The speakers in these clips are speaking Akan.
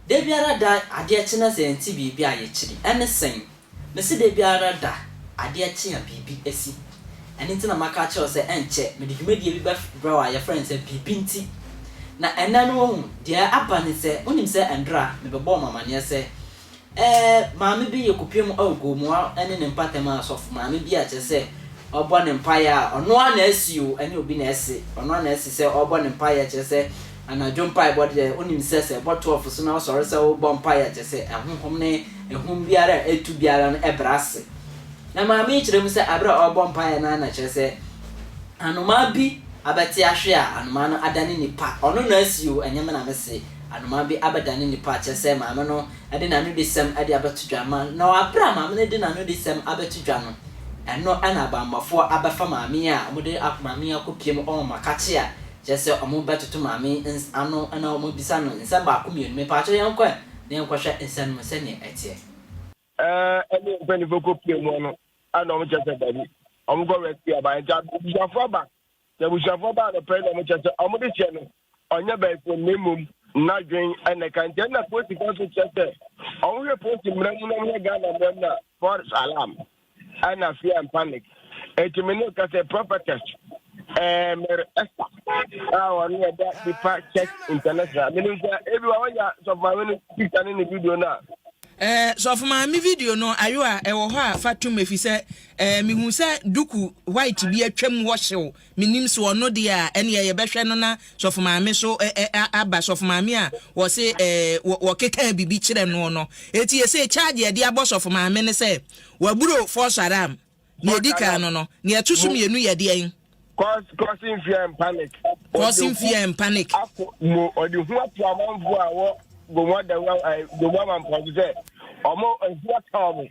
Da biara da adeɛ kye na sɛ yɛnte biribi a yɛkyiri. Ɛne sɛn? Mese da biara da adeɛ kye a biribi asi. Ɛno nti na maka akyerɛ wo sɛ ɛnkyɛ mede dwumadie bi bɛbrɛ wo a yɛfrɛ no sɛ Biribi Nti. Na ɛnnɛ no woahu, deɛ aba ne sɛ, wonim sɛ ɛnora mebɛbɔɔ mo amaneɛ sɛ eh, maame bi yɛ kopie mu oh Gomoa ne ne mpatamu asɔfo maame bi a kyerɛ sɛ ɔbɔ ne mpaeɛ a ɔno ara na asi o, ɛnyɛ obi na asi, ɔno ara na asi sɛ ɔrebɔ ne mpaeɛ kyerɛ sɛ anadwo mpaebɔ deɛ wonim sɛ sɛ ɛbɔ 12 so na wosɔre sɛ worebɔ mpaeɛ a kyerɛ sɛ ahonhom ne ahum biara a ɛtu biara no ɛbrɛ ase. Na maame yi kyerɛ mu sɛ bere a ɔrebɔ mpae no ara na kyerɛ sɛ anomaa bi abɛte ahwe a anomaa no adane nipa. Ɔno na asi o, ɛnyɛ me na mese. Anomaa bi abɛdane nipa a kyerɛ sɛ maame no de n'anodisɛm de abɛto dwa ma no. Na bere a maame no de n'anodisɛm abɛto dwa no, ɛno na abammɔfoɔ abɛfa maame yi a wɔde maame yi akɔpue mu wɔ makakye a kyerɛ sɛ wɔbɛtoto maame yi ano na wɔabisa no nsɛm baako mmienu. Mepaakyɛw yɛnkɔ ɛ na yɛnkɔhwɛ nsɛm no mu sɛnea ɛteɛ. ɛɛ ɛne mpanyinfoɔ kɔ pie mu no ɛna wɔn kyɛ sɛ dabi wɔn kɔ rescue aba nti abusuafoɔ aba sɛ abusuafoɔ ba anɔpɛ na wɔn kyɛ sɛ wɔn de hyɛ no ɔnyɛ bɛɛfo na mmom n'adwen ɛna ka nti ɛna polisi kan so kyɛ sɛ wɔn hwɛ polisi mmerɛ mu na wɔn hwɛ ghana mmerɛ mu na false alarm ɛna fear and panic. nti me ne ka sɛ prophetess eh, mere ɛsa a ɔno yɛ da nipa church international menim sɛ ebi wa wonya sɔfoma me no picture ne ne video no a eh, sɔfo maame video no ayo a ɛwɔ hɔ a fa tom efi sɛ eh, mehu sɛ duku white bi atwam hɔ hyew Mennim so ɔno deɛ a ɛneɛ yɛbɛhwɛ no na sɔfo maame so aba sɔfo maame a wɔse wɔkekaa bibi kyerɛ noɔ no eti ɛsei charge yɛde abɔ sɔfo maame ne sɛ waburo false alarm nea edi kan no no nea ɛto so mmienu yɛ deɛn causing fear and panic causing fear and panic ako mo ɔde hu ato amanfoɔ a wɔ gomo adawa gomo amanfoɔ so sɛ ɔmo ahu aka ɔmo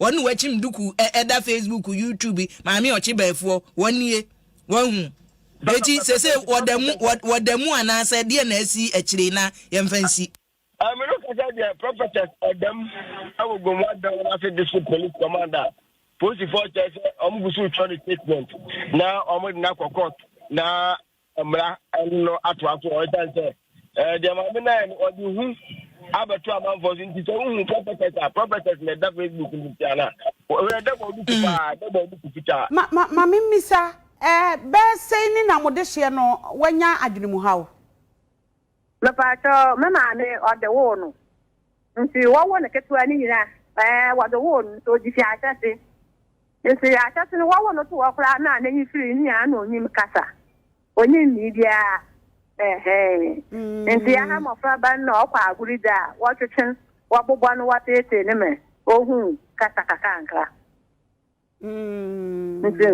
Wɔn ne wakyim dukuu ɛ ɛda facebook youtube maame ɔkye bɛɛfoɔ wɔn nie wahu eti sese wɔda mu wɔ wɔda mu anaasɛ deɛ na asi akyire na yɛmfa nsi. Ah, me no kasa deɛ prophetess ɛdam ɛwɔ gomu adan wɔn ase district police commander polisifoɔ kyerɛ sɛ wɔn gu so retwa ne statement na wɔn de no akɔ court na mmara no atoa so ɛsiane sɛ eh, deɛ maame no ayɛ no ɔde hu abɛto amanfoɔ so nti sɛ wohu prophetess a prophetess na ɛda facebook no ntia no a ɛdɛ bɔ ɔde ku mm. paa ɛdɛ bɔ ɔde ku fitaa ma memmisa eh, bɛɛ sɛi ne na mode hyeɛ no wanya adwene mu haw Mepaakyɛ wo, me maame ɔde woo no nti wɔwo no ketewa ne nyina ɛɛ wɔde woo no nti ɔgye fi ahyɛse nti ahyɛse no wɔwo no to hɔ koraa na n'enyi firi ne nyinaa na onyim kasa onyim nii biara ɛhɛn nti aha mmɔfra ba no na ɔkɔ agoro gya a wɔtwetwe wɔbobɔ no wɔteetee ne mɛ ohun kasa kakankra. nti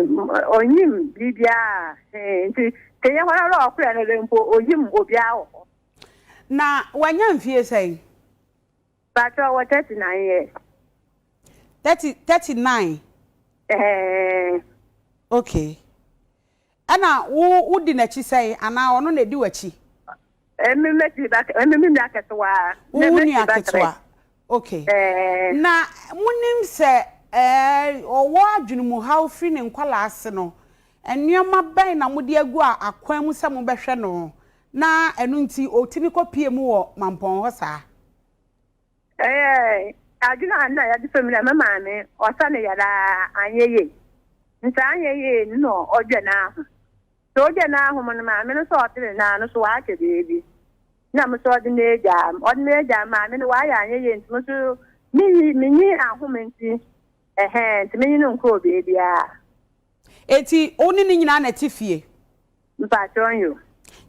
ɔnyim biribiara he nti kɛyɛ hɔn ara ɔkorɛ no dɛ mpo ɔnyim obiara wɔ hɔ. Na wanya mfie sɛn? Mpakyɛw ɔwɔ thirty nine years. Thirty thirty nine. Ɛɛɛ. Okay. Ɛna wo wodi n'akyi sɛn? Anaa ɔno na edi w'akyi? Emi m'akyi ba kɛ, emi me nua kɛsewa. Wo wo nua ketewa, ok. Na monim sɛ ɛɛ ɔwɔ adwenemuhaw firi ne nkwadaa-ase no, nneɛma bɛn na mode agu a akwan mu sɛ mobɛhwɛ no na ɛno nti ɔtumi kɔpue mu wɔ mampɔn hɔ saa? Ɛyɛ adwene a nna yɛde sɔ mu dɛ me maame ɔsa ne yar ara annyɛ yie. Ntsi annyɛ yie no na ɔgya n'ahom. Sɛ ɔgya n'ahom no, maame no so ɔtsen n'ano no so ɔahwɛ beebi. Nna mo so ɔdze me egya a, ɔdze me egya a maame no ɔayɛ annyɛ yie ntsi mo so minnyi minnyi ahom ntsi ɛhɛn ntsi menye no nnkɔɔ beebiara. Ntsi wo ne no nyina na etse fie? Mpatsɔ, nyew.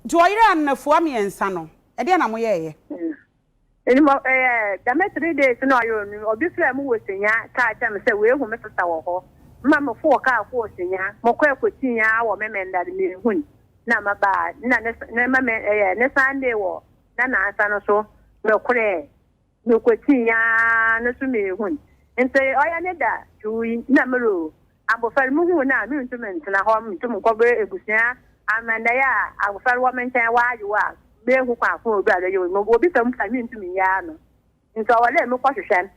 Ntsi ɔyer anafua miɛnsa no, ɛdeɛn na moyɛeɛ? Enti mo, ɛɛ, dɛm three days no a ɔyɛ onum, obi frɛɛ mo wɔ Senyaa kaa kyerɛɛ me sɛ oehu me sesa wɔ hɔ. Mma mofoow kaar kɔɔ Senyaa. Mokɔe kotsiin ara wɔ Memenda no mennhun. Nna mabaa, nna ne, ne Mame, ɛɛ, ne Sunday wɔ n'anansa no so mekorɛɛ. Mokotsiin ara no so mennhun. Ntsi ɔyɛ ne da, Tui, nna morowu. Abofra no, muhun no a, munntum nntsena hɔ nntum nnkɔbrɛ ebusua ama ndɛ yi a abofra no wɔ me nkyɛn, ɔayew a, meehu kwan ko a odur a no yew no, mowɔ bisa mu mpo a menntum nnyɛ ano, ntsi ɔwɔ dɛ mokɔ hwehwɛ no,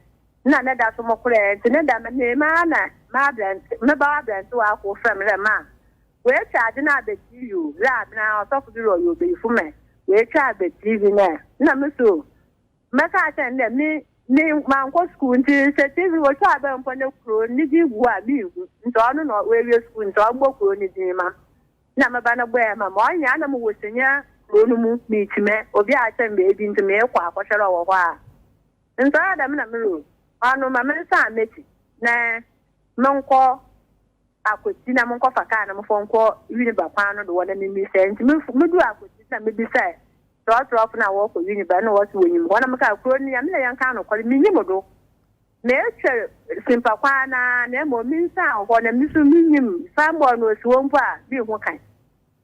nna ne da so mokorɛ, ntsi ne dɛm no emi ara na m'aberantse, me ba aberantsewa kor frɛ me dɛ, Ma, woetwa adze no abetsir yi o, dza aben ara ɔsɔfo bi rɔyɛ obeyifo ma, woetwa abetsir bi nɛ, nna mo so o, mɛka akyerɛ no dɛ me me mankɔ skuul ntsi sɛ TV wotwa aber mpo na kurow ne dzin gu hɔ a mennhu ntsi ɔno na oewie skuul ntsi ɔmbɔ kurow ne dzin ma nna me ba no bɔe ma me ɔnnyɛ a nna mowɔ sene kurow no mu meekyimɛ obi akyerɛ me beebi ntsi meekɔ akɔhwɛ dɛ ɔwɔ hɔ a ntsi ɔyɛ dɛm na mero ɔno ma mensan m'ekyir na monkɔ Akwetsi na monkɔfa kaar na momfa nkɔ Winneba kwan no do hɔ na mimisa ntsi mudur Akwetsi na mibisae Kyerɛwkyerɛfo no a wɔkɔ Uniba na wɔse wonyim hɔ na mekaa kurow no, nea me na yɛnkaa nokwar, minnyim do. Metwar simpa kwaa no ara na mbom minsian hɔ na miso minnyim signboard no osi hɔ mpo a minnhu kan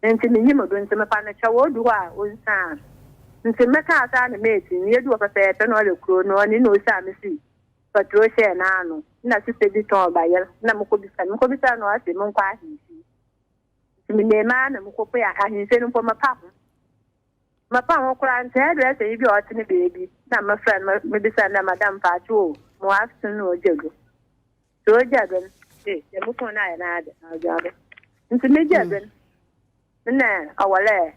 ntsi minnyim do ntsi mefa no kyɛw odu hɔ a onsian ntsi mekaa saa na meetsie no yeduu hɔ pɛpɛɛpɛ na ɔyɛ kurow no ɔno na osi a mesi paturo hyɛɛ n'ano nna sista bi tɔn bayer nna mokɔbisaa no mokɔbisaa no ɔse monkɔ ahemfie Menee maa na mekɔpue a ahemfie no mpo mapa ho. Mapa ho koraa nti hairdresser yi bi a ɔte ne baabi na mefrɛ no mebisa no dɛ madam mpaakye o mewɔ aso no ogya do. Sɛ ogya do no ee deɛ me phone no ayɛ n'ade na ogya do. Nti megya do no nna ɔwɔ lɛ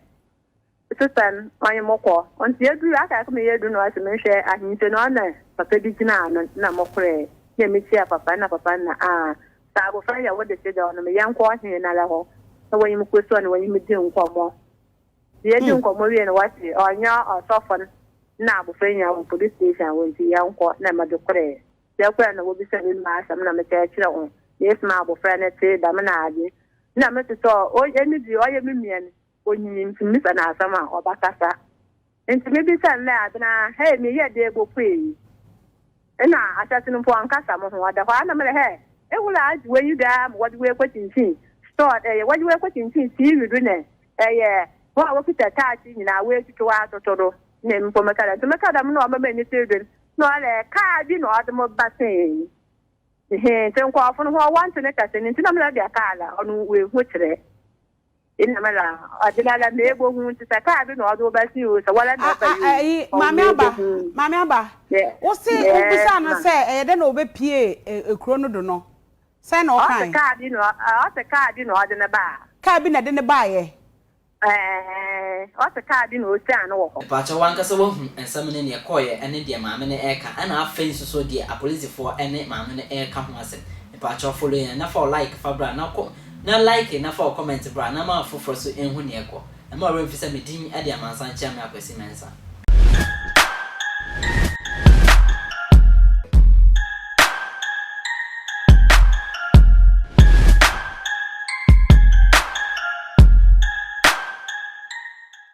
Sesan kwan mo kɔ. Ɔnti yɛduru aka yɛkɔ me yɛ du no ase me nhwɛ ahenkyɛ no ana papa bi gyina ano na mo korɛ na me kyia papa na papa nna aa saa abofra yɛ wo de se dɛw no me yɛ nkɔ ɔhen nara hɔ na wɔnye me kɔ sua no wɔnye me di nkɔmɔ nti yɛ di nkɔmɔ wie no wɔse ɔnyɛ ɔsɔfo no na abofra yi nya wɔ police station wɔ nti yɛ nkɔ na me de korɛ yɛ korɛ na wɔbisa me ma asɛm na me kyɛ kyerɛ ho na yɛ sima abofra no te dɛm na ade na me te sɛ ɔyɛ me di ɔyɛ me mia no Onyim nsɛmbisa na asɛm a ɔbɛkasa. Ntsi mibisa no dɛ, Adze no ara, hɛ meyɛ dɛ ebopue yi? Nna ahyɛse no mpo ɔnnkasa moho, ɔda hɔ ara na mera, hɛ ehor a adze wei yi do ara ma wɔdze wo ekokyinkyin store do, wɔdze wo ekokyinkyin TV do na ɛyɛ hɔn a wokitsa taakye nyina woetwitwa wo atoto do na mpo meka dɛ, ntsi meka dɛm na ɔma m'enyi tsew dwen na ɔyɛ dɛ kaar bi na ɔdze mo ba see he, ntsi nkorɔfo no hɔn wɔnntse ne kasa no ntsi na mera dɛ kaar a ɔno woehu kyerɛ. Nna me la ɔdze me la mebohu ntsi sɛ kaa bi na ɔdze wo ba si o sɛ wɔ la na ɔba yi o ɔwo mebohu. Ayi Maame Aba Maame Aba wo se wo bisaa no sɛ ɛyɛ dɛ na ɔbɛ pie ekuro no do no sɛn na ɔkae. Ɔse kaa bi na ɔse kaa bi na ɔdze no baa. Kaa bi na ɛde no baa yɛ. Ɛɛɛɛ ɔse kaa bi na ɔsiaa no wɔ hɔ. Mpakyɛw wankasa wahu nsɛm ne neɛ kɔɔyɛ ɛne deɛ maame no ɛɛka ɛna afei nso so deɛ apolisifoɔ ɛne maame no ɛɛka ho asɛm mpakyɛw follow yɛn na fa wo like fa bra na kɔ Na like na fa wo comment bra na ma afoforɔ so nhu nea ɛkɔ. Ɛma ɔwerɛ mfi sɛ me din de Amansan Kyeame Akwasi Mensah.